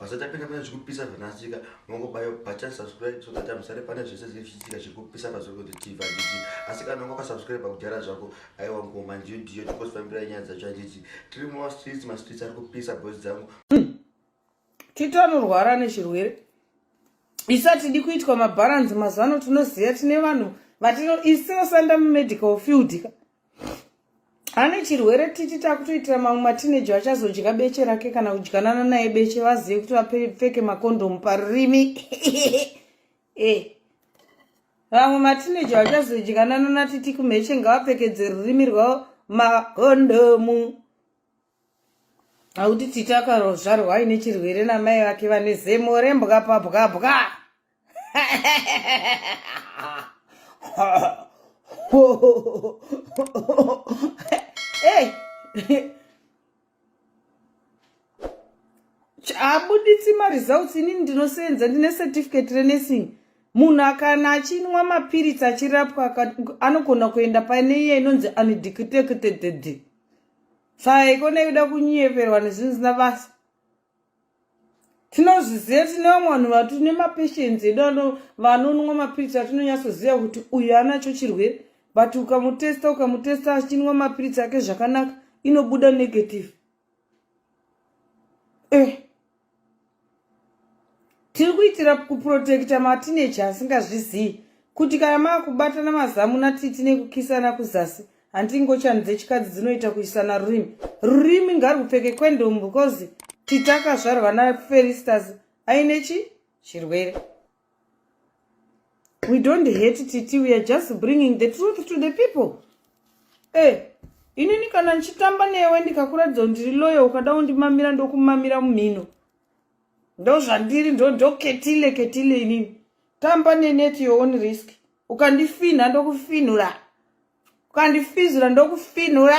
Basa tapinda pane zvikupisa zvanasika mongobayo button subscribe so that amusare pane zvese zvinenge zvichiitika zviri kupisa pazorikoti tv handiti asi kana unga wakasubscribe kudhara zvako aiwa ngoma ndiyo ndiyo tikosifambirai nyaya dzacho handiti tiri mumastreets mastreets ari kupisa boys dzangu hmm. tito anorwara nezvirwere isu hatidi kuitwa mabharanzi mazuvano tinoziva tine vanhu vatino isu tinosanda mumedical field ka ane chirwere titi takutoitira mamwe matineji vachazodya beche rake kana kudyanana naye beche vazive kuti vapfeke makondomu parurimi eh. vamwe matineji vachazodyanana natiti kumheche ngavapfekedze rurimi rwavo makondomu Auti titi akarozvarwa aine chirwere namai vake vane zemo rembwa pabwabwa. abuditsi maresults inini ndinosenza ndine certificate renursing munhu akana achinwa mapiritsi achirapwa anogona kuenda pane iya inonzi undecuteted Tsai kone kuda kunyeperwa nezvinhu zvisina basa. Tinozviziva tine vamwe vanhu vatine mapatience edu vanonwa mapiritsi atinonyatsoziva kuti uyu anacho chirwere but ukamutesta ukamutesta achinwa mapiritsi ake zvakanaka inobuda negative. Eh. tiri kuitira kuprotekta matineji asingazvizivi kuti kana maakubatana mazamu natiti nekukisana kuzasi hanti ingochani dzechikadzi dzinoita kuisana rurimi rurimi ngarwupfeke kwendomu because titi akazvarwa naferistas aine chi chirwere we don't hate titi we are just bringing the truth to the people e eh, inini kana ndichitamba newe ndikakuratidza kuti ndiri loyo ukada undimamira ndokumamira mumhino ndozvandiri ndondoketile ketile inini tamba nenet your own risk ukandifinha ndokufinhura ukandifizira ndokufinhura